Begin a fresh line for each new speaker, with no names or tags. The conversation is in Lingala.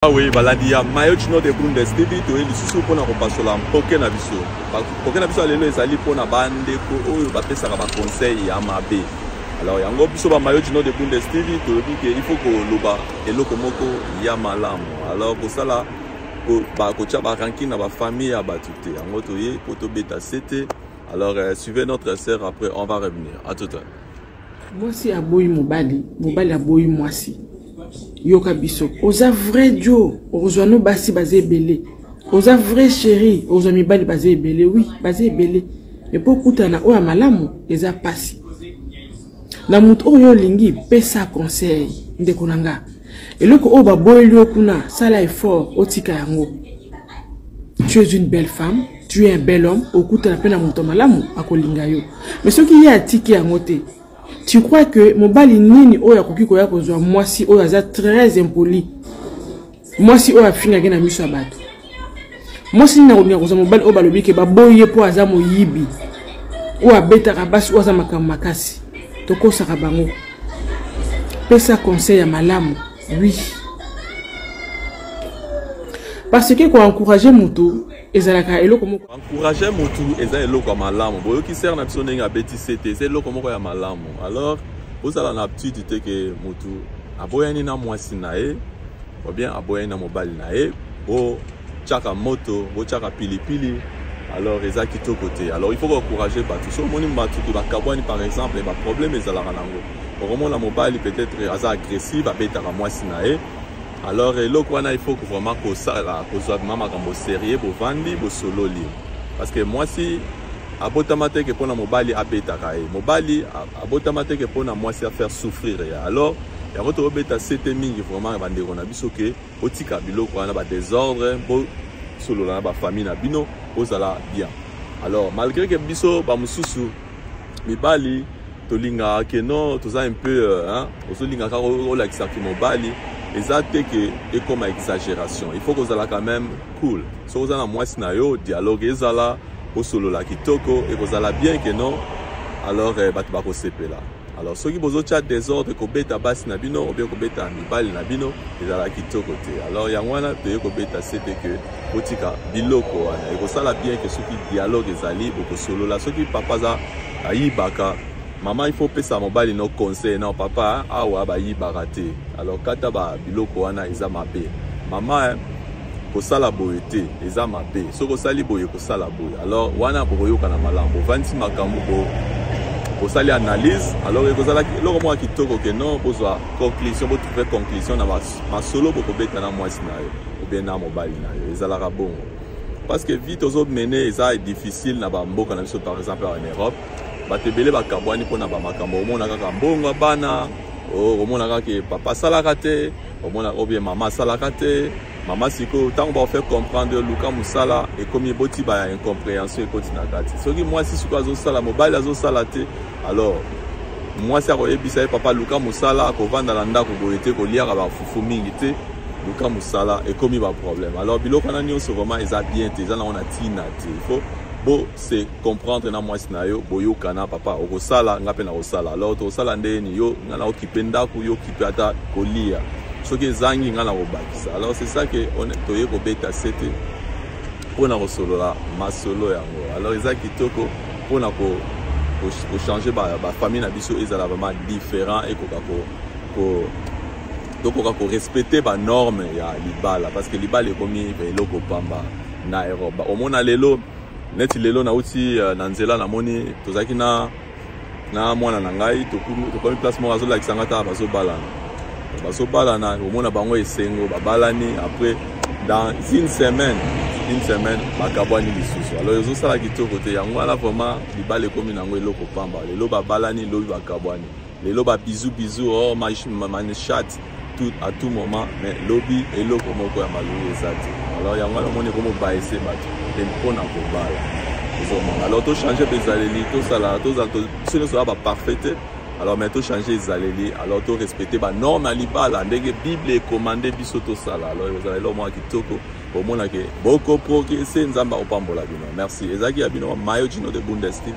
awe ah balandi ya mayo chino de bundes tv toye lisusu mpona kopasola mpoke na biso mpoke na biso ya lelo ezali mpona bandeko oyo bapesaka baconseil ya mabe alors yango biso bamayo chino de bundes tv toyebi ke il faut koloba eloko moko ya malamu alors kosala bakotya baranking na bafamille ya bato te yango toye mpo tobeta sete alors euh, suivez notre sœur après on va revenir à tout à l'heure mwasi
aboyi mobali mobali aboyi mwasi yoka biso oza vrai dio okozwa no basi baza ebele oza vrai chéri okozwa mibali baza ebele wi baza ebele epo okutana oyo ya malamu eza mpasi na moto oyo olingi pesa conseil ndeko na nga eloko oyo baboyeli yo kuna sala effort otika yango tu es une belle femme tu es un bel homme okutana mpe na moto malamu akolinga yo mais soki ye atiki yango te tu crois que mobali nini oyo akoki koya kozwa mwasi oyo aza très impoli mwasi oyo afingaki na miso ya bato mwasi nini akolinga kozwa mobali oyo balobi ke baboyi ye mpo aza moyibi oyo abetaka basi oyo aza makambo makasi tokosaka bango pesa conseil ya malamu oui parce que koencourage motu ezalaka eloko moko encourage motu
eza eloko ya malamu boyoki sere na biso ndenge abeti sete eza eloko moko ya malamu alors ozala na aptitude te ke motu aboyani na mwasi na ye obien aboyani na mobali na ye botyaka moto botyaka pilipili alors eza kitoko te alors il faut koencourage bato so omoni bato ke bakabwani par exemple baproblème ezalaka nango okomona mobali peut-être aza agressive abetaka mwasi na ye alors eloko wana il faut vraiment kosala kozwa vrima makambo serieux bovandi bosololi parce que mwasi abotama teke mpo na mobali abetaka ye mobali abotama teke mpo na mwasi afaire souffrir ye alors yango tokobeta sete mingi vraiment bandeko na biso ke botika biloko wana badesordre bosolola na bafamille na bino bozala bien alors malgré ke biso bamosusu mibali tolingaka ke non toza un peu euh, ozolinga kaka olakisa ke mobali eza te ke ekoma exagération il faut kozala quand même cool soki oza na mwasi na yo dialogue ezala osolola kitoko ekozala bien ke non alors euh, bato bakosepela Alors soki bozotia desordre kobeta basi na bino obie kobeta mibali na bino ezala kitoko te alors yango wana toye kobeta sete ke botika biloko wana ekosala bien ke soki dialogue ezali bokosolola soki papa aza ayibaka mama ifo opesa mobali no conseil no papa awa bayibaka te alors kata ba biloko wana eza mabe mama eh, kosala boye te eza mabe soki osali boye kosala boye alors wana bokoyokana malamu bovandisi makambo bo bosali analyse alors ekozalaki eloko moko kitoko ke non bozwa conclusion botrouve conclusion na masolo bokobeta na mwasi na yo obie na mobali na yo ezalaka bongo parce que vie tozomene eza difficile na bamboka na biso par exemple en europe bato ebele bakabwani mpo na bamakambo omona kaka mbongo ya bana oh, omona kaka papa asalaka te omona obie mama asalaka te mama sikoyo ntango baofaire comprendre yo luka mosala ekomi eboti ba incomprehension ekoti na kati soki mwasi sikoyo azosala mobali azosala te alors mwasi akoyebisa ye papa luka mosala akovanda na ndako boye te koliaka bafufu mingi te luka mosala ekomi baproblème alors biloko wana nyonso vraiment eza bien te eza nango na ntina te il faut bo se comprendre na mwasi na yo boyokana papa okosala nga mpe nakosala alors tokosala nde ni yo nga nakokipe ndako yo kipe ata kolia soki ezangi nga nakobakisa alors c'est ça ke toye kobeta sete mpo na kosolola masolo yango alors eza kitoko mpo na kochange bafamille na biso ezala vraiment différent ekoka tokoka korespecte banorme ya libala parce que libala ekomi eloko pamba na europe omona lelo neti lelo nauti euh, na nzela namoni tozalaki na na mwana na ngai tokomi place moko azolakisa ngai ata bazobalana bazobalana komona bango esengo babalani après dans une semaine une semaine bakabwani lisusu alors ezosala kitoko te yango wana vraiment libala ekomi na yango eloko pamba lelo babalani lobi bakabwani lelo ba bisous bisous oh ma, ma, ma, ma chat tout à tout moment mais lobi eloko moko ya malongi eza te alors yango wana omoni ekomobayese bato mpe mpo na kobala ezomona alors tochange mpe ezaleli tosala tozala biso nyonso oya baparfait te alors mais tochange ezaleli alors torespecte banorme ya libala ndenge bible ekomande biso tosala alors ekozala eloko mwa kitoko omonake bokoprogrese nzambe akopambola bino merci ezalaki ya bino mayo jino de bundes tv